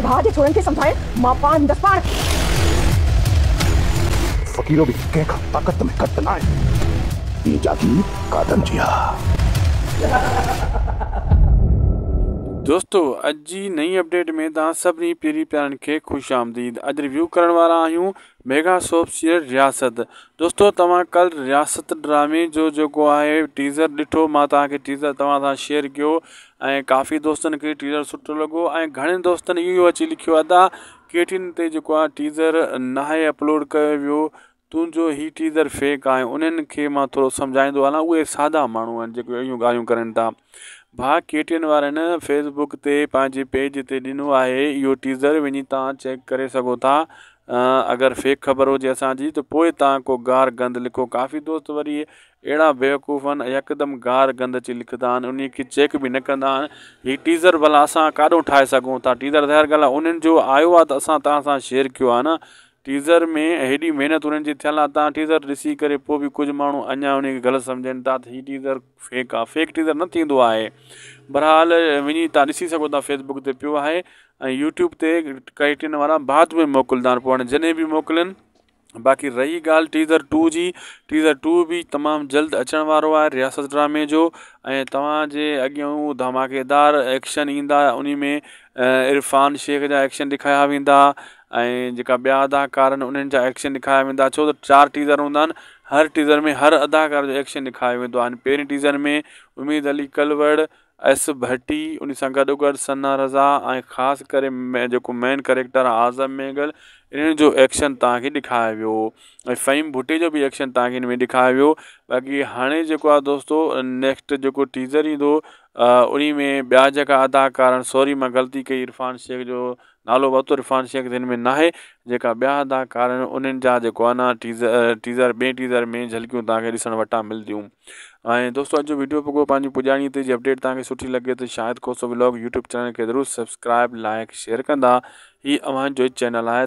ڀاء جي ڇورن کي سمجهائي مان پاڻ هوندس پاڻ. فقيرو به ڪنهن کان طاقت ۾ گهٽ ناهي. هي جاگير قادن جي آ. دوستو اڄ جي نئين اپڊيٽ ۾ توهان سڀني پيري پيارن کي خوش آمديد اڄ ريويو ڪرڻ وارا آهيون ميگا سوپ سيريل رياست دوستو توهان ڪل رياست ڊرامي جو جيڪو آهي ٽيزر ڏٺو مان توهان کي ٽيزر توهان سان شيئر ڪيو ۽ ڪافي دوستن کي ٽيزر سٺو لڳو ۽ گهڻن دوستن اهو اچي لکيو ادا ڪي ٽي اين تي جيڪو آهي ٽيزر ناهي اپلوڊ ڪيو ويو تنهنجو هي ٽيزر فيڪ آهي انهن کي مان ٿورو سمجهائيندو هلان اهي سادا ماڻهو آهن جيڪي اهڙيون ڳالهيون ڪرن ٿا ڀا ڪي ٽي اين وارن فيس بوڪ تي پنهنجي پيج تي ڏنو آهي اهو ٽيزر وڃي توهان چيڪ ڪري سگهو ٿا اگر فيڪ خبر هجي اسان جي ته پوء توهان ڪو گار گند لکو ڪافي دوست وري اهڙا بيوقوف آهن يڪدم گار گند اچي لکندا آهن انهي کي چيڪ به نه ڪندا آهن هي ٽيزر ڀلا اسان ڪاڏون ٺاهي سگهون ٿا ٽيزر ظاهر ڳالهه آهي انهن جو آيو آهي ته اسان توهان سان شيئر ڪيو آهي نه ٽيزر ۾ هيڏي محنت انهن جي ٿيل آهي توهان ٽيزر ڏسي ڪري پوء به ڪجهه ماڻهو اڃا انهي کي غلط سمجهن ٿا ته هي ٽيزر فيڪ آ فيڪ ٽيزر نه ٿيندو آهي برحال وڃي تان ڏسي سگهو ٿا فيس بڪ تي پيو آهي ۽ يوٽيوب تي ڪريٽين وارا بعد ۾ موڪلدا آهن پوء جڏهن به موڪلن باقي رهي ڳالهه ٽيزر ٽو جي ٽيزر ٽو به تمام جلد اچڻ وارو آهي رياست ڊرامي جو ۽ توهان جي اڳيان هو ڌماڪيدار ايڪشن ايندا انهي ۾ عرفان شيخ جا ايڪشن ڏيکايا ويندا ۽ جيڪا ٻيا اداڪار آهن انهن جا ايڪشن ڏيکايا ويندا ڇو ته چار ٽيزر هوندا آهن هر ٽيزر ۾ هر اداڪار جو ايڪشن ڏيکايو ويندو آهن پهرين ٽيزر ۾ اميد علي ڪلوڙ ايس ڀٽي انهي سان گڏو گڏ ثنا رضا ۽ خاص ڪري جيڪو مين ڪريڪٽر آهي اعظم مينگل انهن جو ايڪشن توهان کي ڏيکايو ويو ۽ فهيم ڀٽي جو به ايڪشن توهان کي ان ۾ ڏيکايو ويو باقي هاڻي جيڪو آهي دوستو نيڪسٽ جيڪو ٽيزر ايندو انهي ۾ ٻيا جيڪا اداڪار آهن سوري مان غلطي ڪئي عرفان شيخ جو نالو بطور عرفان شيخ جن ۾ ناهي جيڪا ٻيا ادا ڪار آهن انهن جا جيڪو آهي نه ٽيزر ٽيزر ٻئي ٽيزر ۾ جهلڪيون توهان کي ڏسڻ وٽان ملديون ۽ دوستو اڄ جو ويڊيو پڳو پنهنجي پڄاڻي تي جي اپڊيٽ توهان کي سٺي لڳي ته Shahid Khoso vlog YouTube channel کي ضرور سبسڪرائب لائڪ شيئر ڪندا هي اوهان جو چينل آهي